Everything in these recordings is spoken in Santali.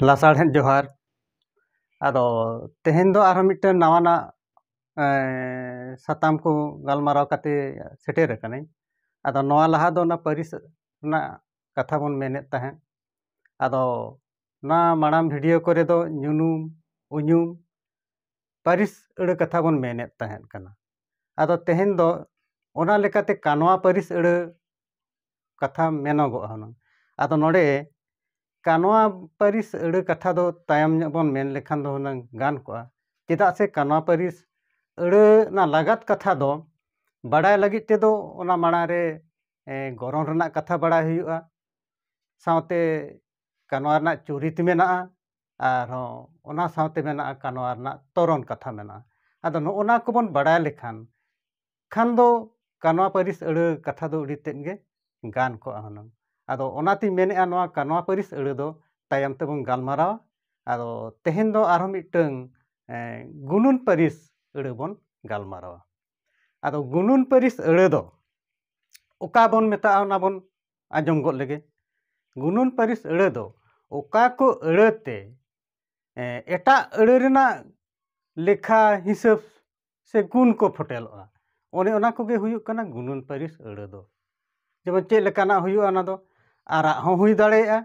ᱞᱟᱥᱟᱲᱦᱮᱫ ᱡᱚᱦᱟᱨ ᱟᱫᱚ ᱛᱮᱦᱮᱧ ᱫᱚ ᱟᱨᱦᱚᱸ ᱢᱤᱫᱴᱮᱱ ᱱᱟᱣᱟᱱᱟᱜ ᱥᱟᱛᱟᱢ ᱠᱚ ᱜᱟᱞᱢᱟᱨᱟᱣ ᱠᱟᱛᱮ ᱥᱮᱴᱮᱨ ᱟᱠᱟᱱᱟᱹᱧ ᱟᱫᱚ ᱱᱚᱣᱟ ᱞᱟᱦᱟ ᱫᱚ ᱚᱱᱟ ᱯᱟᱹᱨᱤᱥ ᱨᱮᱱᱟᱜ ᱠᱟᱛᱷᱟ ᱵᱚᱱ ᱢᱮᱱᱮᱫ ᱛᱟᱦᱮᱸᱫ ᱟᱫᱚ ᱱᱚᱣᱟ ᱢᱟᱲᱟᱝ ᱵᱷᱤᱰᱤᱭᱳ ᱠᱚᱨᱮ ᱫᱚ ᱧᱩᱱᱩᱢ ᱩᱧᱩᱢ ᱯᱟᱹᱨᱤᱥ ᱟᱹᱲᱟᱹ ᱠᱟᱛᱷᱟ ᱵᱚᱱ ᱢᱮᱱᱮᱫ ᱛᱟᱦᱮᱸᱫ ᱠᱟᱱᱟ ᱟᱫᱚ ᱛᱮᱦᱮᱧ ᱫᱚ ᱚᱱᱟ ᱞᱮᱠᱟᱛᱮ ᱠᱟᱱᱣᱟ ᱯᱟᱹᱨᱤᱥ ᱟᱹᱲᱟᱹ ᱠᱟᱛᱷᱟ ᱢᱮᱱᱚᱜᱚᱜᱼᱟ ᱦᱩᱱᱟᱹᱝ ᱟᱫᱚ ᱱᱚᱰᱮ ᱠᱟᱱᱣᱟ ᱯᱟᱹᱨᱤᱥ ᱟᱹᱲᱟᱹ ᱠᱟᱛᱷᱟ ᱫᱚ ᱛᱟᱭᱚᱢ ᱧᱚᱜ ᱵᱚᱱ ᱢᱮᱱ ᱞᱮᱠᱷᱟᱱ ᱫᱚ ᱦᱩᱱᱟᱹᱝ ᱜᱟᱱ ᱠᱚᱜᱼᱟ ᱪᱮᱫᱟᱜ ᱥᱮ ᱠᱟᱱᱣᱟ ᱯᱟᱹᱨᱤᱥ ᱟᱹᱲᱟᱹ ᱨᱮᱱᱟᱜ ᱞᱟᱜᱟᱫ ᱠᱟᱛᱷᱟ ᱫᱚ ᱵᱟᱰᱟᱭ ᱞᱟᱹᱜᱤᱫ ᱛᱮᱫᱚ ᱚᱱᱟ ᱢᱟᱲᱟᱝ ᱨᱮ ᱜᱚᱨᱚᱱ ᱨᱮᱱᱟᱜ ᱠᱟᱛᱷᱟ ᱵᱟᱲᱟᱭ ᱦᱩᱭᱩᱜᱼᱟ ᱥᱟᱶᱛᱮ ᱠᱟᱱᱣᱟ ᱨᱮᱱᱟᱜ ᱪᱩᱨᱤᱛ ᱢᱮᱱᱟᱜᱼᱟ ᱟᱨᱦᱚᱸ ᱚᱱᱟ ᱥᱟᱶᱛᱮ ᱢᱮᱱᱟᱜᱼᱟ ᱠᱟᱱᱣᱟ ᱨᱮᱱᱟᱜ ᱛᱚᱨᱚᱱ ᱠᱟᱛᱷᱟ ᱢᱮᱱᱟᱜᱼᱟ ᱟᱫᱚ ᱱᱚᱜᱼᱚ ᱱᱟ ᱠᱚᱵᱚᱱ ᱵᱟᱲᱟᱭ ᱞᱮᱠᱷᱟᱱ ᱠᱷᱟᱱ ᱫᱚ ᱠᱟᱱᱣᱟ ᱯᱟᱹᱨᱤᱥ ᱟᱹᱲᱟᱹ ᱠᱟᱛᱷᱟ ᱫᱚ ᱟᱹᱰᱤ ᱛᱮᱫ ᱜᱮ ᱜᱟᱱ ᱠᱚᱜᱼᱟ ᱦᱩᱱᱟᱹᱝ ᱟᱫᱚ ᱚᱱᱟᱛᱤᱧ ᱢᱮᱱᱮᱫᱼᱟ ᱱᱚᱣᱟ ᱠᱟᱱᱣᱟ ᱯᱟᱹᱨᱤᱥ ᱟᱹᱲᱟᱹ ᱫᱚ ᱛᱟᱭᱚᱢ ᱛᱮᱵᱚᱱ ᱜᱟᱞᱢᱟᱨᱟᱣᱟ ᱟᱫᱚ ᱛᱮᱦᱮᱧ ᱫᱚ ᱟᱨᱦᱚᱸ ᱢᱤᱫᱴᱟᱹᱝ ᱜᱩᱱᱩᱱ ᱯᱟᱹᱨᱤᱥ ᱟᱹᱲᱟᱹ ᱵᱚᱱ ᱜᱟᱞᱢᱟᱨᱟᱣᱟ ᱟᱫᱚ ᱜᱩᱱᱩᱱ ᱯᱟᱹᱨᱤᱥ ᱟᱹᱲᱟᱹ ᱫᱚ ᱚᱠᱟ ᱵᱚᱱ ᱢᱮᱛᱟᱜᱼᱟ ᱚᱱᱟ ᱵᱚᱱ ᱟᱸᱡᱚᱢ ᱜᱚᱫ ᱞᱮᱜᱮ ᱜᱩᱱᱩᱱ ᱯᱟᱹᱨᱤᱥ ᱟᱹᱲᱟᱹ ᱫᱚ ᱚᱠᱟ ᱠᱚ ᱟᱹᱲᱟᱹ ᱛᱮ ᱮᱴᱟᱜ ᱟᱹᱲᱟᱹ ᱨᱮᱱᱟᱜ ᱞᱮᱠᱷᱟ ᱦᱤᱥᱟᱹᱵᱽ ᱥᱮ ᱜᱩᱱ ᱠᱚ ᱯᱷᱚᱴᱮᱞᱚᱜᱼᱟ ᱚᱱᱮ ᱚᱱᱟ ᱠᱚᱜᱮ ᱦᱩᱭᱩᱜ ᱠᱟᱱᱟ ᱜᱩᱱᱟᱹᱱ ᱯᱟᱹᱨᱤᱥ ᱟᱹᱲᱟᱹ ᱫᱚ ᱡᱮᱢᱚᱱ ᱪᱮᱫ ᱞᱮᱠᱟᱱᱟᱜ ᱦᱩᱭᱩᱜᱼᱟ ᱚᱱᱟ ᱫᱚ ᱟᱨᱟᱜ ᱦᱚᱸ ᱦᱩᱭ ᱫᱟᱲᱮᱭᱟᱜᱼᱟ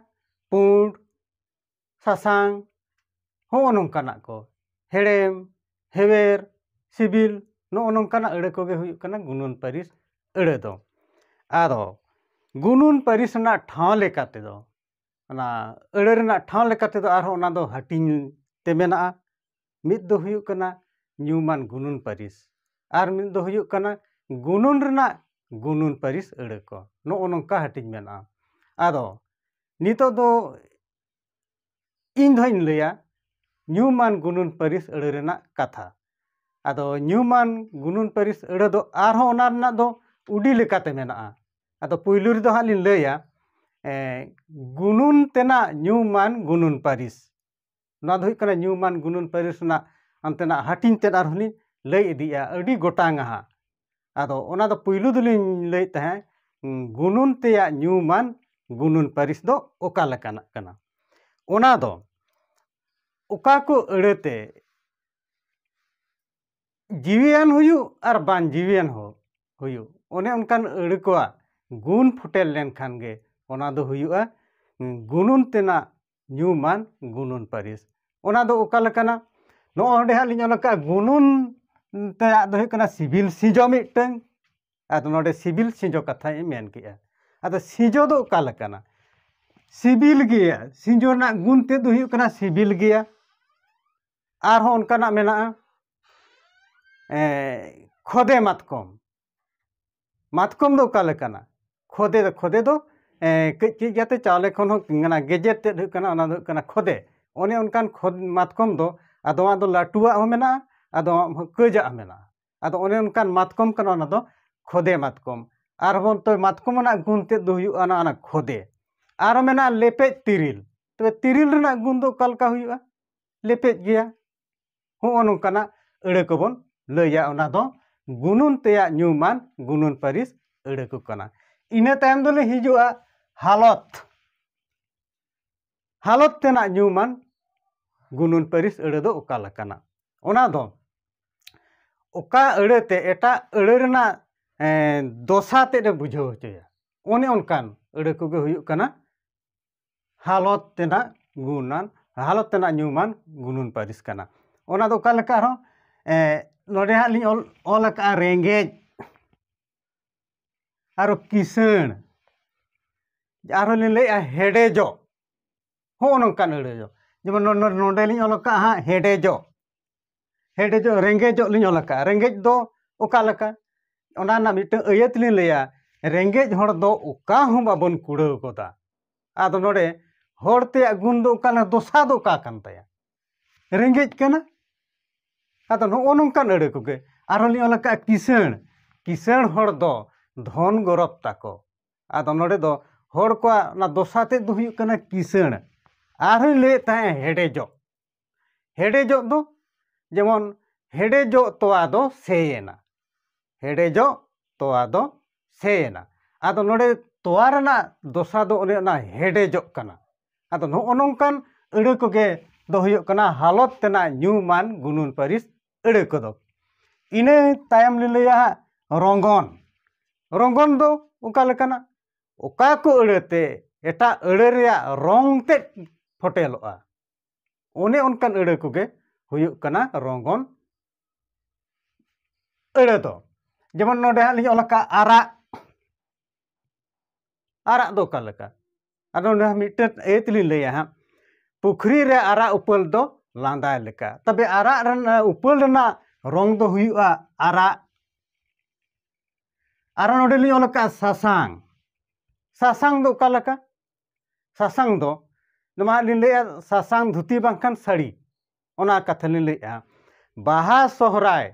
ᱯᱩᱸᱰ ᱥᱟᱥᱟᱝ ᱦᱚᱸᱜᱼᱚ ᱱᱚᱝᱠᱟᱱᱟᱜ ᱠᱚ ᱦᱮᱲᱮᱢ ᱦᱮᱣᱮᱨ ᱥᱤᱵᱤᱞ ᱱᱚᱜᱼᱚ ᱱᱚᱝᱠᱟᱱᱟᱜ ᱟᱹᱲᱟᱹ ᱠᱚᱜᱮ ᱦᱩᱭᱩᱜ ᱠᱟᱱᱟ ᱜᱩᱱᱟᱹᱱ ᱯᱟᱹᱨᱤᱥ ᱟᱹᱲᱟᱹ ᱫᱚ ᱟᱫᱚ ᱜᱩᱱᱟᱹᱱ ᱯᱟᱹᱨᱤᱥ ᱨᱮᱱᱟᱜ ᱴᱷᱟᱶ ᱞᱮᱠᱟ ᱛᱮᱫᱚ ᱚᱱᱟ ᱟᱹᱲᱟᱹ ᱨᱮᱱᱟᱜ ᱴᱷᱟᱶ ᱞᱮᱠᱟ ᱛᱮᱫᱚ ᱟᱨᱦᱚᱸ ᱚᱱᱟ ᱫᱚ ᱦᱟᱹᱴᱤᱧ ᱛᱮ ᱢᱮᱱᱟᱜᱼᱟ ᱢᱤᱫ ᱫᱚ ᱦᱩᱭᱩᱜ ᱠᱟᱱᱟ ᱧᱩᱢᱟᱱ ᱜᱩᱱᱟᱹᱱ ᱯᱟᱹᱨᱤᱥ ᱟᱨ ᱢᱤᱫ ᱫᱚ ᱦᱩᱭᱩᱜ ᱠᱟᱱᱟ ᱜᱩᱱᱟᱹᱱ ᱨᱮᱱᱟᱜ ᱜᱩᱱᱟᱹᱱ ᱯᱟᱹᱨᱤᱥ ᱟᱹᱲᱟᱹ ᱠᱚ ᱱᱚᱜᱼᱚ ᱱᱚᱝᱠᱟ ᱦᱟᱹᱴᱤᱧ ᱢᱮᱱᱟᱜᱼᱟ ᱟᱫᱚ ᱱᱤᱛᱚᱜ ᱫᱚ ᱤᱧ ᱫᱚᱦᱟᱸᱜ ᱤᱧ ᱞᱟᱹᱭᱟ ᱧᱩᱢᱟᱱ ᱜᱩᱱᱟᱹᱱ ᱯᱟᱹᱨᱤᱥ ᱟᱹᱲᱟᱹ ᱨᱮᱱᱟᱜ ᱠᱟᱛᱷᱟ ᱟᱫᱚ ᱧᱩᱢᱟᱱ ᱜᱩᱱᱟᱹᱱ ᱯᱟᱹᱨᱤᱥ ᱟᱹᱲᱟᱹ ᱫᱚ ᱟᱨᱦᱚᱸ ᱚᱱᱟ ᱨᱮᱱᱟᱜ ᱫᱚ ᱩᱰᱤ ᱞᱮᱠᱟᱛᱮ ᱢᱮᱱᱟᱜᱼᱟ ᱟᱫᱚ ᱯᱩᱭᱞᱩ ᱨᱮᱫᱚ ᱦᱟᱸᱜ ᱞᱤᱧ ᱞᱟᱹᱭᱟ ᱜᱩᱱᱩᱱ ᱛᱮᱱᱟᱜ ᱧᱩᱢᱟᱱ ᱜᱩᱱᱩᱱ ᱯᱟᱹᱨᱤᱥ ᱱᱚᱣᱟ ᱫᱚ ᱦᱩᱭᱩᱜ ᱠᱟᱱᱟ ᱧᱩᱢᱟᱱ ᱜᱩᱱᱟᱹᱱ ᱯᱟᱹᱨᱤᱥ ᱨᱮᱱᱟᱜ ᱚᱱᱛᱮᱱᱟᱜ ᱦᱟᱹᱴᱤᱧ ᱛᱮᱫ ᱟᱨᱦᱚᱸ ᱞᱤᱧ ᱞᱟᱹᱭ ᱤᱫᱤᱭᱮᱜᱼᱟ ᱟᱹᱰᱤ ᱜᱚᱴᱟᱝ ᱟᱦᱟᱸᱜ ᱟᱫᱚ ᱚᱱᱟ ᱫᱚ ᱯᱩᱭᱞᱩ ᱫᱚᱞᱤᱧ ᱞᱟᱹᱭᱮᱫ ᱛᱟᱦᱮᱸᱫ ᱜᱩᱱᱟᱹᱱ ᱛᱮᱭᱟᱜ ᱧᱩᱢᱟᱱ ᱜᱩᱱᱟᱹᱱ ᱯᱟᱹᱨᱤᱥ ᱫᱚ ᱚᱠᱟ ᱞᱮᱠᱟᱱᱟᱜ ᱠᱟᱱᱟ ᱚᱱᱟ ᱫᱚ ᱚᱠᱟ ᱠᱚ ᱟᱹᱲᱟᱹᱛᱮ ᱡᱤᱣᱤᱭᱟᱱ ᱦᱩᱭᱩᱜ ᱟᱨ ᱵᱟᱝ ᱡᱤᱣᱤᱭᱟᱱ ᱦᱚᱸ ᱦᱩᱭᱩᱜ ᱚᱱᱮ ᱚᱱᱠᱟᱱ ᱟᱹᱲᱟᱹ ᱠᱚᱣᱟᱜ ᱜᱩᱱ ᱯᱷᱩᱴᱮᱞ ᱞᱮᱱᱠᱷᱟᱱ ᱜᱮ ᱚᱱᱟ ᱫᱚ ᱦᱩᱭᱩᱜᱼᱟ ᱜᱩᱱᱟᱹᱱ ᱛᱮᱱᱟᱜ ᱧᱩᱢᱟᱱ ᱜᱩᱱᱟᱹᱱ ᱯᱟᱹᱨᱤᱥ ᱚᱱᱟ ᱫᱚ ᱚᱠᱟ ᱞᱮᱠᱟᱱᱟ ᱱᱚᱜᱼᱚᱭ ᱱᱚᱰᱮ ᱦᱟᱸᱜ ᱞᱤᱧ ᱚᱞ ᱟᱠᱟᱫᱼᱟ ᱜᱩᱱᱟᱹᱱ ᱛᱮᱭᱟᱜ ᱫᱚ ᱦᱩᱭᱩᱜ ᱠᱟᱱᱟ ᱥᱤᱵᱤᱞ ᱥᱤᱡᱚ ᱢᱤᱫᱴᱟᱹᱝ ᱟᱫᱚ ᱱᱚᱰᱮ ᱥᱤᱵᱤᱞ ᱥᱤᱡᱚ ᱠᱟᱛᱷᱟᱧ ᱢᱮᱱ ᱠᱮᱫᱼᱟ ᱟᱫᱚ ᱥᱤᱡᱚ ᱫᱚ ᱚᱠᱟ ᱞᱮᱠᱟᱱᱟ ᱥᱤᱵᱤᱞ ᱜᱮᱭᱟ ᱥᱤᱡᱚ ᱨᱮᱱᱟᱜ ᱜᱩᱱ ᱛᱮᱫ ᱫᱚ ᱦᱩᱭᱩᱜ ᱠᱟᱱᱟ ᱥᱤᱵᱤᱞ ᱜᱮᱭᱟ ᱟᱨᱦᱚᱸ ᱚᱱᱠᱟᱱᱟᱜ ᱢᱮᱱᱟᱜᱼᱟ ᱠᱷᱚᱫᱮ ᱢᱟᱛᱠᱚᱢ ᱢᱟᱛᱠᱚᱢ ᱫᱚ ᱚᱠᱟ ᱞᱮᱠᱟᱱᱟ ᱠᱷᱚᱫᱮ ᱫᱚ ᱠᱷᱚᱫᱮ ᱫᱚ ᱠᱟᱹᱡ ᱠᱟᱹᱡ ᱠᱟᱛᱮ ᱪᱟᱣᱞᱮ ᱠᱷᱚᱱ ᱦᱚᱸ ᱚᱱᱟ ᱜᱮᱡᱮᱨ ᱛᱮᱫ ᱦᱩᱭᱩᱜ ᱠᱟᱱᱟ ᱚᱱᱟ ᱫᱚ ᱦᱩᱭᱩᱜ ᱠᱟᱱᱟ ᱠᱷᱚᱫᱮ ᱚᱱᱮ ᱚᱱᱠᱟᱱ ᱠᱷᱚᱫ ᱢᱟᱛᱠᱚᱢ ᱫᱚ ᱟᱫᱚᱣᱟᱜ ᱫᱚ ᱞᱟᱹᱴᱩᱣᱟᱜ ᱦᱚᱸ ᱢᱮᱱᱟᱜᱼᱟ ᱟᱫᱚᱣᱟᱜ ᱦᱚᱸ ᱠᱟᱹᱡᱟᱜ ᱦᱚᱸ ᱢᱮᱱᱟᱜᱼᱟ ᱟᱫᱚ ᱚᱱᱮ ᱚᱱᱠᱟᱱ ᱢᱟᱛᱠᱚᱢ ᱠᱟᱱᱟ ᱚᱱᱟ ᱫᱚ ᱠᱷᱚᱫᱮ ᱢᱟᱛᱠᱚᱢ ᱟᱨᱦᱚᱸ ᱛᱚ ᱢᱟᱛᱠᱚᱢ ᱨᱮᱱᱟᱜ ᱜᱩᱱ ᱛᱮᱫ ᱫᱚ ᱦᱩᱭᱩᱜᱼᱟ ᱚᱱᱟ ᱚᱱᱟ ᱠᱷᱚᱫᱮ ᱟᱨᱦᱚᱸ ᱢᱮᱱᱟᱜᱼᱟ ᱞᱮᱯᱮᱡ ᱛᱤᱨᱤᱞ ᱛᱚᱵᱮ ᱛᱤᱨᱤᱞ ᱨᱮᱱᱟᱜ ᱜᱩᱱ ᱫᱚ ᱚᱠᱟ ᱞᱮᱠᱟ ᱦᱩᱭᱩᱜᱼᱟ ᱞᱮᱯᱮᱡ ᱜᱮᱭᱟ ᱦᱚᱸᱜᱼᱚ ᱱᱚᱝᱠᱟᱱᱟᱜ ᱟᱹᱲᱟᱹ ᱠᱚᱵᱚᱱ ᱞᱟᱹᱭᱟ ᱚᱱᱟ ᱫᱚ ᱜᱩᱱᱩᱱ ᱛᱮᱭᱟᱜ ᱧᱩᱢᱟᱱ ᱜᱩᱱᱩᱱ ᱯᱟᱹᱨᱤᱥ ᱟᱹᱲᱟᱹ ᱠᱚ ᱠᱟᱱᱟ ᱤᱱᱟᱹ ᱛᱟᱭᱚᱢ ᱫᱚᱞᱮ ᱦᱤᱡᱩᱜᱼᱟ ᱦᱟᱞᱚᱛ ᱦᱟᱞᱚᱛ ᱛᱮᱱᱟᱜ ᱧᱩᱢᱟᱱ ᱜᱩᱱᱩᱱ ᱯᱟᱹᱨᱤᱥ ᱟᱹᱲᱟᱹ ᱫᱚ ᱚᱠᱟ ᱞᱮᱠᱟᱱᱟ ᱚᱱᱟ ᱫᱚ ᱚᱠᱟ ᱟᱹᱲᱟᱹ ᱛᱮ ᱮᱴᱟᱜ ᱟᱹᱲᱟᱹ ᱨᱮᱱᱟᱜ ᱫᱚᱥᱟ ᱛᱮᱫ ᱮ ᱵᱩᱡᱷᱟᱹᱣ ᱦᱚᱪᱚᱭᱟ ᱚᱱᱮ ᱚᱱᱠᱟᱱ ᱟᱹᱲᱟᱹ ᱠᱚᱜᱮ ᱦᱩᱭᱩᱜ ᱠᱟᱱᱟ ᱦᱟᱞᱚᱛ ᱛᱮᱱᱟᱜ ᱜᱩᱱᱟᱱ ᱦᱟᱞᱚᱛ ᱛᱮᱱᱟᱜ ᱧᱩᱢᱟᱱ ᱜᱩᱱᱟᱱ ᱯᱟᱹᱨᱤᱥ ᱠᱟᱱᱟ ᱚᱱᱟ ᱫᱚ ᱚᱠᱟ ᱞᱮᱠᱟ ᱟᱨᱦᱚᱸ ᱱᱚᱰᱮ ᱦᱟᱸᱜ ᱞᱤᱧ ᱚᱞ ᱚᱞ ᱟᱠᱟᱫᱼᱟ ᱨᱮᱸᱜᱮᱡ ᱟᱨᱚ ᱠᱤᱥᱟᱹᱬ ᱟᱨᱦᱚᱸ ᱞᱤᱧ ᱞᱟᱹᱭᱮᱫᱼᱟ ᱦᱮᱰᱮᱡᱚᱜ ᱦᱚᱸᱜᱼᱚ ᱱᱚᱝᱠᱟᱱ ᱟᱹᱲᱟᱹ ᱫᱚ ᱡᱮᱢᱚᱱ ᱱᱚᱰᱮ ᱞᱤᱧ ᱚᱞ ᱟᱠᱟᱫᱼᱟ ᱦᱟᱸᱜ ᱦᱮᱰᱮᱡᱚᱜ ᱦᱮᱰᱮᱡᱚᱜ ᱨᱮᱸᱜᱮᱡᱚᱜ ᱞᱤᱧ ᱚᱞ ᱟᱠᱟᱫᱼᱟ ᱨᱮᱸᱜᱮᱡ ᱫᱚ ᱚᱠᱟ ᱞᱮᱠᱟ ᱚᱱᱟ ᱨᱮᱱᱟᱜ ᱢᱤᱫᱴᱟᱝ ᱟᱹᱭᱟᱹᱛ ᱞᱤᱧ ᱞᱟᱹᱭᱟ ᱨᱮᱸᱜᱮᱡ ᱦᱚᱲ ᱫᱚ ᱚᱠᱟ ᱦᱚᱸ ᱵᱟᱵᱚᱱ ᱠᱩᱲᱟᱹᱣ ᱜᱚᱫᱟ ᱟᱫᱚ ᱱᱚᱰᱮ ᱦᱚᱲ ᱛᱮᱭᱟᱜ ᱜᱩᱱ ᱫᱚ ᱚᱠᱟ ᱞᱮᱠᱟ ᱫᱚᱥᱟ ᱫᱚ ᱚᱠᱟ ᱠᱟᱱ ᱛᱟᱭᱟ ᱨᱮᱸᱜᱮᱡ ᱠᱟᱱᱟ ᱟᱫᱚ ᱱᱚᱜᱼᱚ ᱱᱚᱝᱠᱟᱱ ᱟᱹᱲᱟᱹ ᱠᱚᱜᱮ ᱟᱨᱦᱚᱸ ᱞᱤᱧ ᱚᱞ ᱟᱠᱟᱫᱼᱟ ᱠᱤᱥᱟᱹᱬ ᱠᱤᱥᱟᱹᱬ ᱦᱚᱲ ᱫᱚ ᱫᱷᱚᱱ ᱜᱚᱨᱚᱵᱽ ᱛᱟᱠᱚ ᱟᱫᱚ ᱱᱚᱰᱮ ᱫᱚ ᱦᱚᱲ ᱠᱚᱣᱟᱜ ᱚᱱᱟ ᱫᱚᱥᱟ ᱛᱮᱫ ᱫᱚ ᱦᱩᱭᱩᱜ ᱠᱟᱱᱟ ᱠᱤᱥᱟᱹᱬ ᱟᱨᱦᱚᱸᱧ ᱞᱟᱹᱭᱮᱫ ᱛᱟᱦᱮᱸᱫ ᱦᱮᱰᱮᱡᱚᱜ ᱦᱮᱰᱮᱡᱚᱜ ᱫᱚ ᱡᱮᱢᱚᱱ ᱦᱮᱰᱮᱡᱚᱜ ᱛᱚᱣᱟ ᱫᱚ ᱥᱮᱭᱮᱱᱟ ᱦᱮᱰᱮᱡᱚᱜ ᱛᱚᱣᱟ ᱫᱚ ᱥᱮᱭᱮᱱᱟ ᱟᱫᱚ ᱱᱚᱰᱮ ᱛᱚᱣᱟ ᱨᱮᱱᱟᱜ ᱫᱚᱥᱟ ᱫᱚ ᱚᱱᱮ ᱚᱱᱟ ᱦᱮᱰᱮᱡᱚᱜ ᱠᱟᱱᱟ ᱟᱫᱚ ᱱᱚᱜᱼᱚ ᱱᱚᱝᱠᱟᱱ ᱟᱹᱲᱟᱹ ᱠᱚᱜᱮ ᱫᱚ ᱦᱩᱭᱩᱜ ᱠᱟᱱᱟ ᱦᱟᱞᱚᱛ ᱛᱮᱱᱟᱜ ᱧᱩᱢᱟᱱ ᱜᱩᱱᱩᱱ ᱯᱟᱹᱨᱤᱥ ᱟᱹᱲᱟᱹ ᱠᱚᱫᱚ ᱤᱱᱟᱹ ᱛᱟᱭᱚᱢ ᱞᱤᱧ ᱞᱟᱹᱭᱟ ᱦᱟᱸᱜ ᱨᱚᱝᱜᱚᱱ ᱨᱚᱝᱜᱚᱱ ᱫᱚ ᱚᱠᱟ ᱞᱮᱠᱟᱱᱟ ᱚᱠᱟ ᱠᱚ ᱟᱹᱲᱟᱹᱛᱮ ᱮᱴᱟᱜ ᱟᱹᱲᱟᱹ ᱨᱮᱭᱟᱜ ᱨᱚᱝ ᱛᱮᱫ ᱯᱷᱚᱴᱮᱞᱚᱜᱼᱟ ᱚᱱᱮ ᱚᱱᱠᱟᱱ ᱟᱹᱲᱟᱹ ᱠᱚᱜᱮ ᱦᱩᱭᱩᱜ ᱠᱟᱱᱟ ᱨᱚᱝᱜᱚᱱ ᱟᱹᱲᱟᱹ ᱫᱚ ᱡᱮᱢᱚᱱ ᱱᱚᱰᱮ ᱦᱟᱸᱜ ᱞᱤᱧ ᱚᱞ ᱟᱠᱟᱫ ᱟᱨᱟᱜ ᱟᱨᱟᱜ ᱫᱚ ᱚᱠᱟ ᱞᱮᱠᱟ ᱟᱫᱚ ᱱᱚᱰᱮ ᱢᱤᱫᱴᱮᱱ ᱮ ᱛᱮᱞᱤᱧ ᱞᱟᱹᱭᱟ ᱦᱟᱸᱜ ᱯᱩᱠᱷᱨᱤ ᱨᱮ ᱟᱨᱟᱜ ᱩᱯᱟᱹᱞ ᱫᱚ ᱞᱟᱸᱫᱟᱭ ᱞᱮᱠᱟ ᱛᱚᱵᱮ ᱟᱨᱟᱜ ᱨᱮᱱᱟᱜ ᱩᱯᱟᱹᱞ ᱨᱮᱱᱟᱜ ᱨᱚᱝ ᱫᱚ ᱦᱩᱭᱩᱜᱼᱟ ᱟᱨᱟᱜ ᱟᱨᱚ ᱱᱚᱰᱮ ᱞᱤᱧ ᱚᱞ ᱟᱠᱟᱫ ᱥᱟᱥᱟᱝ ᱥᱟᱥᱟᱝ ᱫᱚ ᱚᱠᱟ ᱞᱮᱠᱟ ᱥᱟᱥᱟᱝ ᱫᱚ ᱱᱚᱣᱟ ᱦᱟᱸᱜ ᱞᱤᱧ ᱞᱟᱹᱭᱮᱜᱼᱟ ᱥᱟᱥᱟᱝ ᱫᱷᱩᱛᱤ ᱵᱟᱝᱠᱷᱟᱱ ᱥᱟᱹᱲᱤ ᱚᱱᱟ ᱠᱟᱛᱷᱟ ᱞᱤᱧ ᱞᱟᱹᱭᱮᱜᱼᱟ ᱵᱟᱦᱟ ᱥᱚᱦᱨᱟᱭ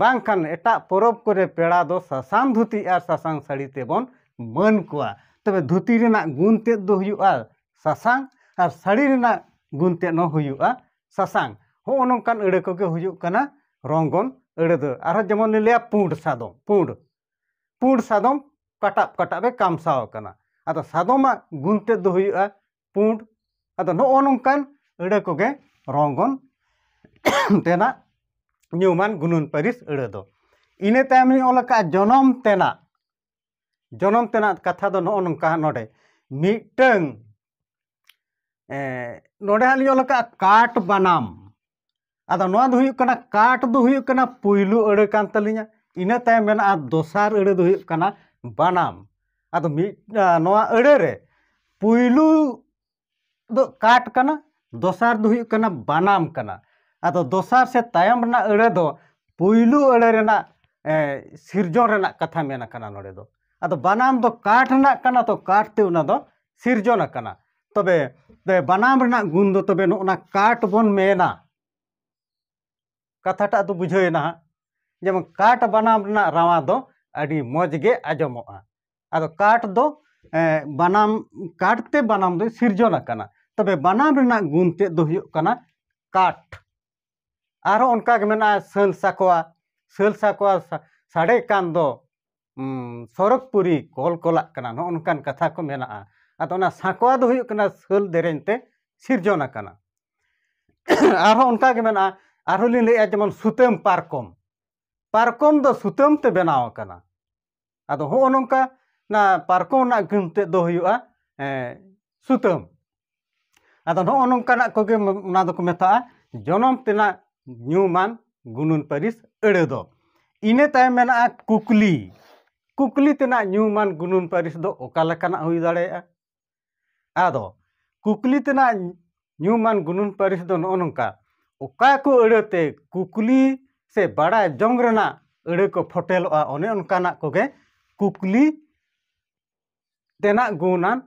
ᱵᱟᱝᱠᱷᱟᱱ ᱮᱴᱟᱜ ᱯᱚᱨᱚᱵᱽ ᱠᱚᱨᱮ ᱯᱮᱲᱟ ᱫᱚ ᱥᱟᱥᱟᱝ ᱫᱷᱩᱛᱤ ᱟᱨ ᱥᱟᱥᱟᱝ ᱥᱟᱹᱲᱤ ᱛᱮᱵᱚᱱ ᱢᱟᱹᱱ ᱠᱚᱣᱟ ᱛᱚᱵᱮ ᱫᱷᱩᱛᱤ ᱨᱮᱱᱟᱜ ᱜᱩᱱ ᱛᱮᱫ ᱫᱚ ᱦᱩᱭᱩᱜᱼᱟ ᱥᱟᱥᱟᱝ ᱟᱨ ᱥᱟᱹᱲᱤ ᱨᱮᱱᱟᱜ ᱜᱩᱱ ᱛᱮᱫ ᱦᱚᱸ ᱦᱩᱭᱩᱜᱼᱟ ᱥᱟᱥᱟᱝ ᱦᱚᱸᱜᱼᱚ ᱱᱚᱝᱠᱟᱱ ᱟᱹᱲᱟᱹ ᱠᱚᱜᱮ ᱦᱩᱭᱩᱜ ᱠᱟᱱᱟ ᱨᱚᱝᱜᱚᱱ ᱟᱹᱲᱟᱹ ᱫᱚ ᱟᱨᱦᱚᱸ ᱡᱮᱢᱚᱱ ᱞᱤᱧ ᱞᱟᱹᱭᱟ ᱯᱩᱸᱰ ᱥᱟᱫᱚᱢ ᱯᱩᱸᱰ ᱯᱩᱸᱰ ᱥᱟᱫᱚᱢ ᱠᱟᱴᱟᱵ ᱠᱟᱴᱟᱵ ᱮ ᱠᱟᱢᱥᱟᱣ ᱟᱠᱟᱱᱟ ᱟᱫᱚ ᱥᱟᱫᱚᱢᱟᱜ ᱜᱩᱱ ᱛᱮᱫ ᱫᱚ ᱦᱩᱭᱩᱜᱼᱟ ᱯᱩᱸᱰ ᱟᱫᱚ ᱱᱚᱜᱼᱚ ᱱᱚᱝᱠᱟᱱ ᱟᱹᱲᱟᱹ ᱠᱚᱜᱮ ᱨᱚᱝᱜᱚᱱ ᱛᱮᱱᱟᱜ ᱧᱩᱢᱟᱱ ᱜᱩᱱᱟᱹᱱ ᱯᱟᱹᱨᱤᱥ ᱟᱹᱲᱟᱹ ᱫᱚ ᱤᱱᱟᱹ ᱛᱟᱭᱚᱢ ᱤᱧ ᱚᱞ ᱟᱠᱟᱫᱼᱟ ᱡᱚᱱᱚᱢ ᱛᱮᱱᱟᱜ ᱡᱚᱱᱚᱢ ᱛᱮᱱᱟᱜ ᱠᱟᱛᱷᱟ ᱫᱚ ᱱᱚᱜᱼᱚ ᱱᱚᱝᱠᱟ ᱱᱚᱰᱮ ᱢᱤᱫᱴᱟᱹᱝ ᱱᱚᱰᱮ ᱦᱟᱸᱜ ᱞᱤᱧ ᱚᱞ ᱟᱠᱟᱫᱼᱟ ᱠᱟᱴ ᱵᱟᱱᱟᱢ ᱟᱫᱚ ᱱᱚᱣᱟ ᱫᱚ ᱦᱩᱭᱩᱜ ᱠᱟᱱᱟ ᱠᱟᱴ ᱫᱚ ᱦᱩᱭᱩᱜ ᱠᱟᱱᱟ ᱯᱩᱭᱞᱩ ᱟᱹᱲᱟᱹ ᱠᱟᱱ ᱛᱟᱹᱞᱤᱧᱟ ᱤᱱᱟᱹ ᱛᱟᱭᱚᱢ ᱢᱮᱱᱟᱜᱼᱟ ᱫᱚᱥᱟᱨ ᱟᱹᱲᱟᱹ ᱫᱚ ᱦᱩᱭᱩᱜ ᱠᱟᱱᱟ ᱵᱟᱱᱟᱢ ᱟᱫᱚ ᱢᱤᱫ ᱱᱚᱣᱟ ᱟᱹᱲᱟᱹ ᱨᱮ ᱯᱩᱭᱞᱩ ᱫᱚ ᱠᱟᱴ ᱠᱟᱱᱟ ᱫᱚᱥᱟᱨ ᱫᱚ ᱦᱩᱭᱩᱜ ᱠᱟᱱᱟ ᱵᱟᱱᱟᱢ ᱠᱟᱱᱟ ᱟᱫᱚ ᱫᱚᱥᱟᱨ ᱥᱮ ᱛᱟᱭᱚᱢ ᱨᱮᱱᱟᱜ ᱟᱹᱲᱟᱹ ᱫᱚ ᱯᱩᱭᱞᱩ ᱟᱹᱲᱟᱹ ᱨᱮᱱᱟᱜ ᱥᱤᱨᱡᱚᱱ ᱨᱮᱱᱟᱜ ᱠᱟᱛᱷᱟ ᱢᱮᱱ ᱟᱠᱟᱱᱟ ᱱᱚᱰᱮ ᱫᱚ ᱟᱫᱚ ᱵᱟᱱᱟᱢ ᱫᱚ ᱠᱟᱴ ᱨᱮᱱᱟᱜ ᱠᱟᱱᱟ ᱛᱚ ᱠᱟᱴ ᱛᱮ ᱚᱱᱟ ᱫᱚ ᱥᱤᱨᱡᱚᱱ ᱟᱠᱟᱱᱟ ᱛᱚᱵᱮ ᱵᱟᱱᱟᱢ ᱨᱮᱱᱟᱜ ᱜᱩᱱ ᱫᱚ ᱛᱚᱵᱮ ᱱᱚᱜᱼᱚ ᱱᱟ ᱠᱟᱴ ᱵᱚᱱ ᱢᱮᱱᱟ ᱠᱟᱛᱷᱟᱴᱟᱜ ᱫᱚ ᱵᱩᱡᱷᱟᱹᱣ ᱮᱱᱟ ᱦᱟᱸᱜ ᱡᱮᱢᱚᱱ ᱠᱟᱴ ᱵᱟᱱᱟᱢ ᱨᱮᱱᱟᱜ ᱨᱟᱣᱟ ᱫᱚ ᱟᱹᱰᱤ ᱢᱚᱡᱽ ᱜᱮ ᱟᱸᱡᱚᱢᱚᱜᱼᱟ ᱟᱫᱚ ᱠᱟᱴ ᱫᱚ ᱵᱟᱱᱟᱢ ᱠᱟᱴ ᱛᱮ ᱵᱟᱱᱟᱢ ᱫᱚᱭ ᱥᱤᱨᱡᱚᱱ ᱟᱠᱟᱱᱟ ᱛᱚᱵᱮ ᱵᱟᱱᱟᱢ ᱨᱮᱱᱟᱜ ᱜᱩᱱ ᱛᱮᱫ ᱫᱚ ᱦᱩᱭᱩᱜ ᱠᱟᱱᱟ ᱠᱟᱴ ᱟᱨᱦᱚᱸ ᱚᱱᱠᱟ ᱜᱮ ᱢᱮᱱᱟᱜᱼᱟ ᱥᱟᱹᱞ ᱥᱟᱠᱣᱟ ᱥᱟᱹᱞ ᱥᱟᱠᱣᱟ ᱥᱟᱰᱮ ᱠᱟᱱ ᱫᱚ ᱥᱚᱨᱚᱜᱽ ᱯᱩᱨᱤ ᱠᱚᱞ ᱠᱚᱞᱟᱜ ᱠᱟᱱᱟ ᱱᱚᱜᱼᱚ ᱱᱚᱝᱠᱟᱱ ᱠᱟᱛᱷᱟ ᱠᱚ ᱢᱮᱱᱟᱜᱼᱟ ᱟᱫᱚ ᱚᱱᱟ ᱥᱟᱠᱣᱟ ᱫᱚ ᱦᱩᱭᱩᱜ ᱠᱟᱱᱟ ᱥᱟᱹᱞ ᱫᱮᱨᱮᱧ ᱛᱮ ᱥᱤᱨᱡᱚᱱ ᱟᱠᱟᱱᱟ ᱟᱨᱦᱚᱸ ᱚᱱᱠᱟ ᱜᱮ ᱢᱮᱱᱟᱜᱼᱟ ᱟᱨᱦᱚᱸ ᱞᱤᱧ ᱞᱟᱹᱭᱮᱫᱼᱟ ᱡᱮᱢᱚᱱ ᱥᱩᱛᱟᱹᱢ ᱯᱟᱨᱠᱚᱢ ᱯᱟᱨᱠᱚᱢ ᱫᱚ ᱥᱩᱛᱟᱹᱢ ᱛᱮ ᱵᱮᱱᱟᱣ ᱟᱠᱟᱱᱟ ᱟᱫᱚ ᱦᱚᱸᱜᱼᱚ ᱱᱚᱝᱠᱟ ᱚᱱᱟ ᱯᱟᱨᱠᱚᱢ ᱨᱮᱱᱟᱜ ᱜᱟᱹᱢ ᱛᱮᱫ ᱫᱚ ᱦᱩᱭᱩᱜᱼᱟ ᱥᱩᱛᱟᱹᱢ ᱟᱫᱚ ᱱᱚᱜᱼᱚ ᱱᱚᱝᱠᱟᱱᱟᱜ ᱠᱚᱜᱮ ᱚᱱᱟ ᱫᱚᱠᱚ ᱢᱮᱛᱟᱜᱼᱟ ᱡᱚᱱᱚᱢ ᱛᱮᱱᱟᱜ ᱧᱩᱢᱟᱱ ᱜᱩᱱᱟᱹᱱ ᱯᱟᱹᱨᱤᱥ ᱟᱹᱲᱟᱹ ᱫᱚ ᱤᱱᱟᱹ ᱛᱟᱭᱚᱢ ᱢᱮᱱᱟᱜᱼᱟ ᱠᱩᱠᱞᱤ ᱠᱩᱠᱞᱤ ᱛᱮᱱᱟᱜ ᱧᱩᱢᱟᱱ ᱜᱩᱱᱟᱹᱱ ᱯᱟᱹᱨᱤᱥ ᱫᱚ ᱚᱠᱟ ᱞᱮᱠᱟᱱᱟᱜ ᱦᱩᱭ ᱫᱟᱲᱮᱭᱟᱜᱼᱟ ᱟᱫᱚ ᱠᱩᱠᱞᱤ ᱛᱮᱱᱟᱜ ᱧᱩᱢᱟᱱ ᱜᱩᱱᱟᱹᱱ ᱯᱟᱹᱨᱤᱥ ᱫᱚ ᱱᱚᱜᱼᱚ ᱱᱚᱝᱠᱟ ᱚᱠᱟ ᱠᱚ ᱟᱹᱲᱟᱹ ᱛᱮ ᱠᱩᱠᱞᱤ ᱥᱮ ᱵᱟᱲᱟᱭ ᱡᱚᱝ ᱨᱮᱱᱟᱜ ᱟᱹᱲᱟᱹ ᱠᱚ ᱯᱷᱚᱴᱮᱞᱚᱜᱼᱟ ᱚᱱᱮ ᱚᱱᱠᱟᱱᱟᱜ ᱠᱚᱜᱮ ᱠᱩᱠᱞᱤ ᱛᱮᱱᱟᱜ ᱜᱩᱱᱟᱱ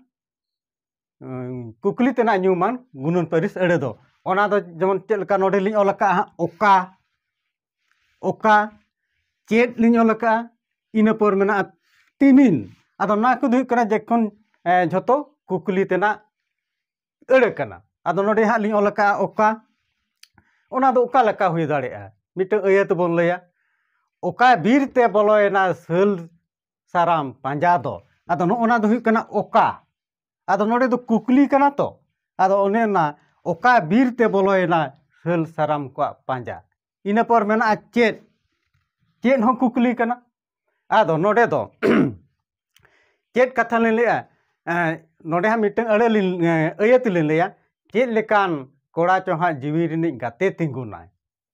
ᱠᱩᱠᱞᱤ ᱛᱮᱱᱟᱜ ᱧᱩᱢᱟᱱ ᱜᱩᱱᱟᱹᱱ ᱯᱟᱹᱨᱤᱥ ᱟᱹᱲᱟᱹ ᱫᱚ ᱚᱱᱟ ᱫᱚ ᱡᱮᱢᱚᱱ ᱪᱮᱫ ᱞᱮᱠᱟ ᱱᱚᱰᱮ ᱞᱤᱧ ᱚᱞ ᱟᱠᱟᱫᱼᱟ ᱚᱠᱟ ᱚᱠᱟ ᱪᱮᱫ ᱞᱤᱧ ᱚᱞ ᱟᱠᱟᱫᱼᱟ ᱤᱱᱟᱹ ᱯᱚᱨ ᱢᱮᱱᱟᱜᱼᱟ ᱛᱤᱢᱤᱱ ᱟᱫᱚ ᱱᱚᱣᱟ ᱠᱚᱫᱚ ᱦᱩᱭᱩᱜ ᱠᱟᱱᱟ ᱡᱮᱠᱷᱚᱱ ᱡᱷᱚᱛᱚ ᱠᱩᱠᱞᱤ ᱛᱮᱱᱟᱜ ᱟᱹᱲᱟᱹ ᱠᱟᱱᱟ ᱟᱫᱚ ᱱᱚᱰᱮ ᱦᱟᱸᱜ ᱞᱤᱧ ᱚᱞ ᱟᱠᱟᱫᱼᱟ ᱚᱠᱟ ᱚᱱᱟ ᱫᱚ ᱚᱠᱟ ᱞᱮᱠᱟ ᱦᱩᱭ ᱫᱟᱲᱮᱭᱟᱜᱼᱟ ᱢᱤᱫᱴᱟᱹᱝ ᱟᱹᱭᱟᱹᱛ ᱵᱚᱱ ᱞᱟᱹᱭᱟ ᱚᱠᱟ ᱵᱤᱨ ᱛᱮ ᱵᱚᱞᱚᱭᱮᱱᱟ ᱥᱟᱹᱞ ᱥᱟᱨᱟᱢ ᱯᱟᱸᱡᱟ ᱫᱚ ᱟᱫᱚ ᱱᱚᱜᱼᱚ ᱱᱚᱣᱟ ᱫᱚ ᱦᱩᱭᱩᱜ ᱠᱟᱱᱟ ᱚᱠᱟ ᱟᱫᱚ ᱱᱚᱰᱮ ᱫᱚ ᱠᱩᱠᱞᱤ ᱠᱟᱱᱟ ᱛᱚ ᱟᱫᱚ ᱚᱱᱮ ᱚᱱᱟ ᱚᱠᱟ ᱵᱤᱨ ᱛᱮ ᱵᱚᱞᱚᱭᱮᱱᱟ ᱥᱟᱹᱞ ᱥᱟᱨᱟᱢ ᱠᱚᱣᱟᱜ ᱯᱟᱸᱡᱟ ᱤᱱᱟᱹ ᱯᱚᱨ ᱢᱮᱱᱟᱜᱼᱟ ᱪᱮᱫ ᱪᱮᱫ ᱦᱚᱸ ᱠᱩᱠᱞᱤ ᱠᱟᱱᱟ ᱟᱫᱚ ᱱᱚᱰᱮ ᱫᱚ ᱪᱮᱫ ᱠᱟᱛᱷᱟ ᱞᱤᱧ ᱞᱟᱹᱭᱟ ᱱᱚᱰᱮ ᱦᱟᱸᱜ ᱢᱤᱫᱴᱟᱝ ᱟᱹᱲᱟᱹ ᱞᱤᱧ ᱟᱹᱭᱟᱹᱛ ᱞᱤᱧ ᱞᱟᱹᱭᱟ ᱪᱮᱫ ᱞᱮᱠᱟᱱ ᱠᱚᱲᱟ ᱪᱚ ᱦᱟᱸᱜ ᱡᱤᱣᱤ ᱨᱤᱱᱤᱡ ᱜᱟᱛᱮ ᱛᱤᱸᱜᱩᱱᱟᱭ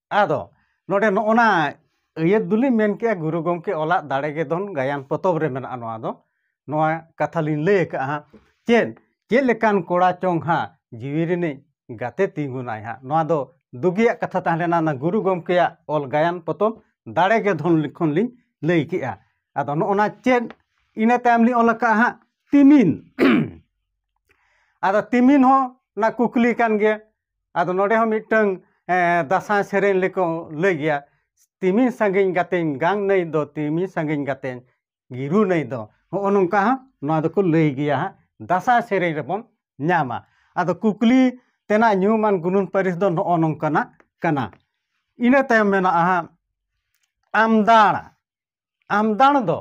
ᱟᱫᱚ ᱱᱚᱰᱮ ᱱᱚᱜᱼᱚ ᱱᱟ ᱟᱹᱭᱟᱹᱛ ᱫᱚᱞᱤᱧ ᱢᱮᱱ ᱠᱮᱜᱼᱟ ᱜᱩᱨᱩ ᱜᱚᱢᱠᱮ ᱚᱞᱟᱜ ᱫᱟᱲᱮ ᱜᱮ ᱫᱚᱱ ᱜᱟᱭᱟᱱ ᱯᱚᱛᱚᱵ ᱨᱮ ᱢᱮᱱᱟᱜᱼᱟ ᱱᱚᱣᱟ ᱫᱚ ᱱᱚᱣᱟ ᱠᱟᱛᱷᱟ ᱞᱤᱧ ᱞᱟᱹᱭ ᱟᱠᱟᱜᱼᱟ ᱦᱟᱸᱜ ᱪᱮᱫ ᱪᱮᱫ ᱞᱮᱠᱟᱱ ᱠᱚᱲᱟ ᱪᱚᱝ ᱦᱟᱸᱜ ᱡᱤᱣᱤ ᱨᱤᱱᱤᱡ ᱜᱟᱛᱮ ᱛᱤᱸᱜᱩᱱᱟᱭ ᱦᱟᱸᱜ ᱱᱚᱣᱟ ᱫᱚ ᱫᱩᱜᱤᱭᱟᱜ ᱠᱟᱛᱷᱟ ᱛᱟᱦᱮᱸ ᱞᱮᱱᱟ ᱚᱱᱟ ᱜᱩᱨᱩ ᱜᱚᱢᱠᱮᱭᱟᱜ ᱚᱞ ᱜᱟᱭᱟᱱ ᱯᱚᱛᱚᱵ ᱫᱟᱲᱮ ᱜᱮ ᱫᱷᱚᱱ ᱠᱷᱚᱱ ᱞᱤᱧ ᱞᱟᱹᱭ ᱠᱮᱜᱼᱟ ᱟᱫᱚ ᱱᱚᱜᱼᱚ ᱱᱟ ᱪᱮᱫ ᱤᱱᱟᱹ ᱛᱟᱭᱚᱢ ᱞᱤᱧ ᱚᱞ ᱟᱠᱟᱜᱼᱟ ᱦᱟᱸᱜ ᱛᱤᱢᱤᱱ ᱟᱫᱚ ᱛᱤᱢᱤᱱ ᱦᱚᱸ ᱚᱱᱟ ᱠᱩᱠᱞᱤ ᱠᱟᱱ ᱜᱮᱭᱟ ᱟᱫᱚ ᱱᱚᱰᱮ ᱦᱚᱸ ᱢᱤᱫᱴᱟᱹᱝ ᱫᱟᱸᱥᱟᱭ ᱥᱮᱨᱮᱧ ᱞᱮᱠᱚ ᱞᱟᱹᱭ ᱜᱮᱭᱟ ᱛᱤᱢᱤᱱ ᱥᱟᱺᱜᱤᱧ ᱜᱟᱛᱮᱧ ᱜᱟᱝ ᱱᱟᱹᱭ ᱫᱚ ᱛᱤᱢᱤᱱ ᱥᱟᱺᱜᱤᱧ ᱜᱟᱛᱮᱧ ᱜᱤᱨᱩ ᱱᱟᱹᱭ ᱫᱚ ᱦᱚᱜᱼᱚ ᱱᱚᱝᱠᱟ ᱦᱚᱸ ᱱᱚᱣᱟ ᱫᱚᱠᱚ ᱞᱟᱹᱭ ᱜᱮᱭᱟ ᱦᱟᱸᱜ ᱫᱟᱸᱥᱟᱭ ᱥᱮᱨᱮᱧ ᱨᱮᱵᱚᱱ ᱧᱟᱢᱟ ᱟᱫᱚ ᱠᱩᱠᱞᱤ ᱛᱮᱱᱟᱜ ᱧᱩᱢᱟᱱ ᱜᱩᱱᱟᱹᱱ ᱯᱟᱹᱨᱤᱥ ᱫᱚ ᱱᱚᱜᱼᱚ ᱱᱚᱝᱠᱟᱱᱟᱜ ᱠᱟᱱᱟ ᱤᱱᱟᱹ ᱛᱟᱭᱚᱢ ᱢᱮᱱᱟᱜᱼᱟ ᱦᱟᱸᱜ ᱟᱢᱫᱟᱲᱟ ᱟᱢᱫᱟᱬ ᱫᱚ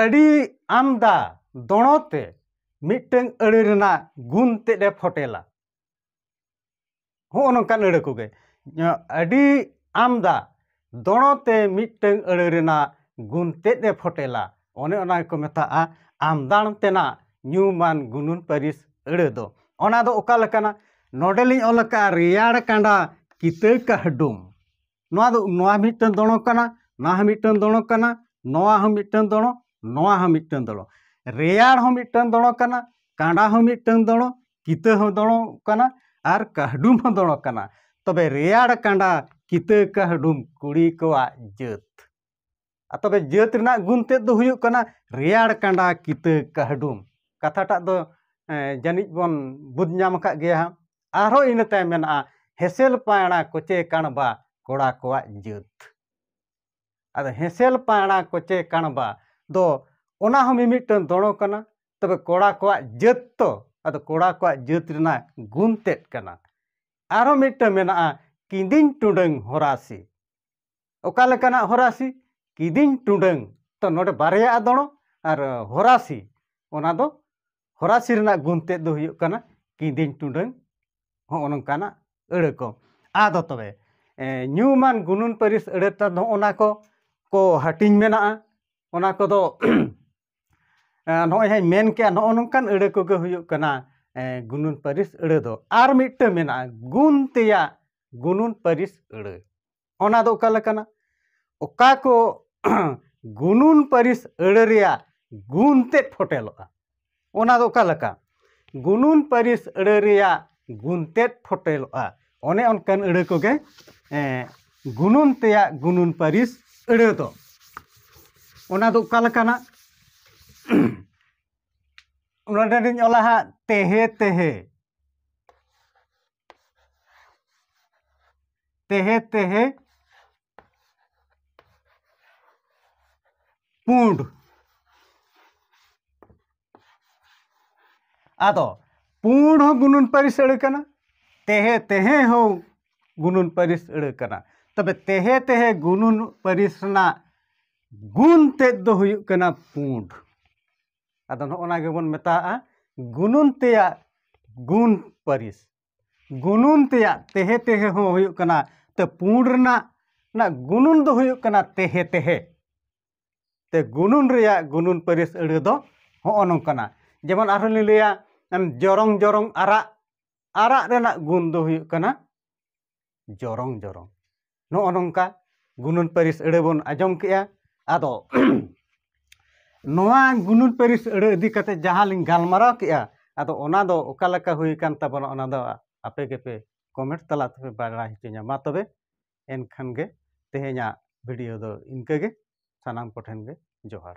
ᱟᱹᱰᱤ ᱟᱢᱫᱟ ᱫᱚᱬᱚ ᱛᱮ ᱢᱤᱫᱴᱟᱝ ᱟᱹᱲᱟᱹ ᱨᱮᱱᱟᱜ ᱜᱩᱱ ᱛᱮᱫ ᱮ ᱯᱷᱚᱴᱮᱞᱟ ᱦᱚᱸᱜᱼᱚ ᱱᱚᱝᱠᱟᱱ ᱟᱹᱲᱟᱹ ᱠᱚᱜᱮ ᱟᱹᱰᱤ ᱟᱢᱫᱟ ᱫᱚᱬᱚ ᱛᱮ ᱢᱤᱫᱴᱟᱝ ᱟᱹᱲᱟᱹ ᱨᱮᱱᱟᱜ ᱜᱩᱱ ᱛᱮᱫ ᱮ ᱯᱷᱚᱴᱮᱞᱟ ᱚᱱᱮ ᱚᱱᱟ ᱜᱮᱠᱚ ᱢᱮᱛᱟᱜᱼᱟ ᱟᱢᱫᱟᱬ ᱛᱮᱱᱟᱜ ᱧᱩᱢᱟᱱ ᱜᱩᱱᱩᱱ ᱯᱟᱹᱨᱤᱥ ᱟᱹᱲᱟᱹ ᱫᱚ ᱚᱱᱟ ᱫᱚ ᱚᱠᱟ ᱞᱮᱠᱟᱱᱟ ᱱᱚᱰᱮᱞᱤᱧ ᱚᱞ ᱟᱠᱟᱫᱼᱟ ᱨᱮᱭᱟᱲ ᱠᱟᱸᱰᱟ ᱠᱤᱛᱟᱹ ᱠᱟᱹᱦᱰᱩᱢ ᱱᱚᱣᱟ ᱫᱚ ᱱᱚᱣᱟ ᱢᱤᱫᱴᱟᱝ ᱫᱚᱲᱚ ᱠᱟᱱᱟ ᱱᱚᱣᱟ ᱦᱚᱸ ᱢᱤᱫᱴᱟᱝ ᱫᱚᱲᱚ ᱠᱟᱱᱟ ᱱᱚᱣᱟ ᱦᱚᱸ ᱢᱤᱫᱴᱟᱝ ᱫᱚᱲᱚ ᱱᱚᱣᱟ ᱦᱚᱸ ᱢᱤᱫᱴᱟᱝ ᱫᱚᱲᱚ ᱨᱮᱭᱟᱲ ᱦᱚᱸ ᱢᱤᱫᱴᱟᱝ ᱫᱚᱲᱚ ᱠᱟᱱᱟ ᱠᱟᱸᱰᱟ ᱦᱚᱸ ᱢᱤᱫᱴᱟᱝ ᱫᱚᱲᱚ ᱠᱤᱛᱟᱹ ᱦᱚᱸ ᱫᱚᱲᱚ ᱠᱟᱱᱟ ᱟᱨ ᱠᱟᱹᱦᱰᱩᱢ ᱦᱚᱸ ᱫᱚᱲᱚ ᱠᱟᱱᱟ ᱛᱚᱵᱮ ᱨᱮᱭᱟᱲ ᱠᱟᱸᱰᱟ ᱠᱤᱛᱟᱹ ᱠᱟᱹᱦᱰᱩᱢ ᱠᱩᱲᱤ ᱠᱚᱣᱟᱜ ᱡᱟᱹᱛ ᱟᱨ ᱛᱚᱵᱮ ᱡᱟᱹᱛ ᱨᱮᱱᱟᱜ ᱜᱩᱱ ᱛᱮᱫ ᱫᱚ ᱦᱩᱭᱩᱜ ᱠᱟᱱᱟ ᱨᱮᱭᱟᱲ ᱠᱟᱸᱰᱟ ᱠᱤᱛᱟᱹ ᱠᱟᱹᱦᱰᱩᱢ ᱠᱟᱛᱷᱟᱴᱟᱜ ᱫᱚ ᱡᱟᱹᱱᱤᱡ ᱵᱚᱱ ᱵᱩᱡᱽ ᱧᱟᱢ ᱟᱠᱟᱫ ᱜᱮᱭᱟ ᱦᱟᱸᱜ ᱟᱨᱦᱚᱸ ᱤᱱᱟᱹ ᱛᱟᱭᱚᱢ ᱢᱮᱱᱟᱜᱼᱟ ᱦᱮᱸᱥᱮᱞ ᱯᱟᱭᱬᱟ ᱠᱚᱪᱮ ᱠᱟᱬᱵᱟ ᱠᱚᱲᱟ ᱠᱚᱣᱟᱜ ᱡᱟᱹᱛ ᱟᱫᱚ ᱦᱮᱸᱥᱮᱞ ᱯᱟᱭᱬᱟ ᱠᱚᱪᱮ ᱠᱟᱬᱵᱟ ᱫᱚ ᱚᱱᱟ ᱦᱚᱸ ᱢᱤᱢᱤᱫᱴᱟᱝ ᱫᱚᱲᱚ ᱠᱟᱱᱟ ᱛᱚᱵᱮ ᱠᱚᱲᱟ ᱠᱚᱣᱟᱜ ᱡᱟᱹᱛ ᱛᱚ ᱟᱫᱚ ᱠᱚᱲᱟ ᱠᱚᱣᱟᱜ ᱡᱟᱹᱛ ᱨᱮᱱᱟᱜ ᱜᱩᱱ ᱛᱮᱫ ᱠᱟᱱᱟ ᱟᱨᱦᱚᱸ ᱢᱤᱫᱴᱟᱝ ᱢᱮᱱᱟᱜᱼᱟ ᱠᱤᱸᱫᱤᱧ ᱴᱩᱰᱟᱹᱝ ᱦᱚᱨᱟᱥᱤ ᱚᱠᱟ ᱞᱮᱠᱟᱱᱟᱜ ᱦᱚᱨᱟᱥᱤ ᱠᱤᱫᱤᱧ ᱴᱩᱰᱟᱹᱝ ᱛᱚ ᱱᱚᱰᱮ ᱵᱟᱨᱭᱟᱜᱼᱟ ᱫᱚᱬᱚ ᱟᱨ ᱦᱚᱨᱟᱥᱤ ᱚᱱᱟ ᱫᱚ ᱦᱚᱨᱟᱥᱤ ᱨᱮᱱᱟᱜ ᱜᱩᱱ ᱛᱮᱫ ᱫᱚ ᱦᱩᱭᱩᱜ ᱠᱟᱱᱟ ᱠᱤᱫᱤᱧ ᱴᱩᱰᱟᱹᱝ ᱦᱚᱸᱜᱼᱚ ᱱᱚᱝᱠᱟᱱᱟᱜ ᱟᱹᱲᱟᱹ ᱠᱚ ᱟᱫᱚ ᱛᱚᱵᱮ ᱧᱩᱢᱟᱱ ᱜᱩᱱᱟᱹᱱ ᱯᱟᱹᱨᱤᱥ ᱟᱹᱲᱟᱹ ᱛᱮᱫ ᱦᱚᱸᱜᱼᱚ ᱱᱟ ᱠᱚ ᱠᱚ ᱦᱟᱹᱴᱤᱧ ᱢᱮᱱᱟᱜᱼᱟ ᱚᱱᱟ ᱠᱚᱫᱚ ᱱᱚᱜᱼᱚᱭ ᱦᱟᱸᱜ ᱤᱧ ᱢᱮᱱ ᱠᱮᱜᱼᱟ ᱱᱚᱜᱼᱚ ᱱᱚᱝᱠᱟᱱ ᱟᱹᱲᱟᱹ ᱠᱚᱜᱮ ᱦᱩᱭᱩᱜ ᱠᱟᱱᱟ ᱜᱩᱱᱟᱹᱱ ᱯᱟᱹᱨᱤᱥ ᱟᱹᱲᱟᱹ ᱫᱚ ᱟᱨ ᱢᱤᱫᱴᱟᱹᱝ ᱢᱮᱱᱟᱜᱼᱟ ᱜᱩᱱ ᱛᱮᱭᱟᱜ ᱜᱩᱱᱟᱹᱱ ᱯᱟᱹᱨᱤᱥ ᱟᱹᱲᱟᱹ ᱚᱱᱟ ᱫᱚ ᱚᱠᱟ ᱞᱮᱠᱟᱱᱟ ᱚᱠᱟ ᱠᱚ ᱜᱩᱱᱩᱱ ᱯᱟᱹᱨᱤᱥ ᱟᱹᱲᱟᱹ ᱨᱮᱭᱟᱜ ᱜᱩᱱ ᱛᱮᱫ ᱯᱷᱚᱴᱮᱞᱚᱜᱼᱟ ᱚᱱᱟ ᱫᱚ ᱚᱠᱟ ᱞᱮᱠᱟ ᱜᱩᱱᱩᱱ ᱯᱟᱹᱨᱤᱥ ᱟᱹᱲᱟᱹ ᱨᱮᱭᱟᱜ ᱜᱩᱱ ᱛᱮᱫ ᱯᱷᱚᱴᱮᱞᱚᱜᱼᱟ ᱚᱱᱮ ᱚᱱᱠᱟᱱ ᱟᱹᱲᱟᱹ ᱠᱚᱜᱮ ᱜᱩᱱᱩᱱ ᱛᱮᱭᱟᱜ ᱜᱩᱱᱩᱱ ᱯᱟᱹᱨᱤᱥ ᱟᱹᱲᱟᱹ ᱫᱚ ᱚᱱᱟ ᱫᱚ ᱚᱠᱟ ᱞᱮᱠᱟᱱᱟ ᱱᱚᱰᱮ ᱞᱤᱧ ᱚᱞᱟ ᱦᱟᱸᱜ ᱛᱮᱦᱮ ᱛᱮᱦᱮ ᱛᱮᱦᱮ ᱛᱮᱦᱮ ᱯᱩᱸᱰ ᱟᱫᱚ ᱯᱩᱸᱰ ᱦᱚᱸ ᱜᱩᱱᱟᱹᱱ ᱯᱟᱹᱨᱤᱥ ᱟᱹᱲᱟᱹ ᱠᱟᱱᱟ ᱛᱮᱦᱮ ᱛᱮᱦᱮ ᱦᱚᱸ ᱜᱩᱱᱟᱹᱱ ᱯᱟᱹᱨᱤᱥ ᱟᱹᱲᱟᱹ ᱠᱟᱱᱟ ᱛᱚᱵᱮ ᱛᱮᱦᱮ ᱛᱮᱦᱮ ᱜᱩᱱᱟᱹᱱ ᱯᱟᱹᱨᱤᱥ ᱨᱮᱱᱟᱜ ᱜᱩᱱ ᱛᱮᱫ ᱫᱚ ᱦᱩᱭᱩᱜ ᱠᱟᱱᱟ ᱯᱩᱸᱰ ᱟᱫᱚ ᱱᱚᱜᱼᱚ ᱱᱟ ᱜᱮᱵᱚᱱ ᱢᱮᱛᱟᱣᱟᱜᱼᱟ ᱜᱩᱱᱩᱱ ᱛᱮᱭᱟᱜ ᱜᱩᱱ ᱯᱟᱹᱨᱤᱥ ᱜᱩᱱᱩᱱ ᱛᱮᱭᱟᱜ ᱛᱮᱦᱮ ᱛᱮᱦᱮ ᱦᱚᱸ ᱦᱩᱭᱩᱜ ᱠᱟᱱᱟ ᱛᱮ ᱯᱩᱸᱰ ᱨᱮᱱᱟᱜ ᱨᱮᱱᱟᱜ ᱜᱩᱱᱩᱱ ᱫᱚ ᱦᱩᱭᱩᱜ ᱠᱟᱱᱟ ᱛᱮᱦᱮ ᱛᱮᱦᱮ ᱛᱮ ᱜᱩᱱᱩᱱ ᱨᱮᱭᱟᱜ ᱜᱩᱱᱩᱱ ᱯᱟᱹᱨᱤᱥ ᱟᱹᱲᱟᱹ ᱫᱚ ᱦᱚᱸᱜᱼᱚ ᱱᱚᱝᱠᱟᱱᱟ ᱡᱮᱢᱚᱱ ᱟᱨᱦᱚᱸ ᱞᱤᱧ ᱞᱟᱹᱭᱟ ᱡᱚᱨᱚᱝ ᱡᱚᱨᱚᱝ ᱟᱨᱟᱜ ᱟᱨᱟᱜ ᱨᱮᱱᱟᱜ ᱜᱩᱱ ᱫᱚ ᱦᱩᱭᱩᱜ ᱠᱟᱱᱟ ᱡᱚᱨᱚᱝ ᱡᱚᱨᱚᱝ ᱱᱚᱜᱼᱚ ᱱᱚᱝᱠᱟ ᱜᱩᱱᱟᱹᱱ ᱯᱟᱹᱨᱤᱥ ᱟᱹᱲᱟᱹ ᱵᱚᱱ ᱟᱸᱡᱚᱢ ᱠᱮᱜᱼᱟ ᱟᱫᱚ ᱱᱚᱣᱟ ᱜᱩᱱᱟᱹᱱ ᱯᱟᱹᱨᱤᱥ ᱟᱹᱲᱟᱹ ᱤᱫᱤ ᱠᱟᱛᱮ ᱡᱟᱦᱟᱸ ᱞᱤᱧ ᱜᱟᱞᱢᱟᱨᱟᱣ ᱠᱮᱜᱼᱟ ᱟᱫᱚ ᱚᱱᱟ ᱫᱚ ᱚᱠᱟ ᱞᱮᱠᱟ ᱦᱩᱭ ᱟᱠᱟᱱ ᱛᱟᱵᱚᱱᱟ ᱚᱱᱟ ᱫᱚ ᱟᱯᱮ ᱜᱮᱯᱮ ᱠᱚᱢᱮᱱᱴ ᱛᱟᱞᱟ ᱛᱮᱯᱮ ᱵᱟᱲᱟᱭ ᱦᱚᱪᱚᱧᱟ ᱢᱟ ᱛᱚᱵᱮ ᱮᱱᱠᱷᱟᱱ ᱜᱮ ᱛᱮᱦᱮᱧᱟᱜ ᱵᱷᱤᱰᱤᱭᱳ ᱫᱚ ᱤᱱᱠᱟᱹ ᱜᱮ ᱥᱟᱱᱟᱢ ᱠᱚᱴᱷᱮᱱ ᱜᱮ ᱡᱚᱦᱟᱨ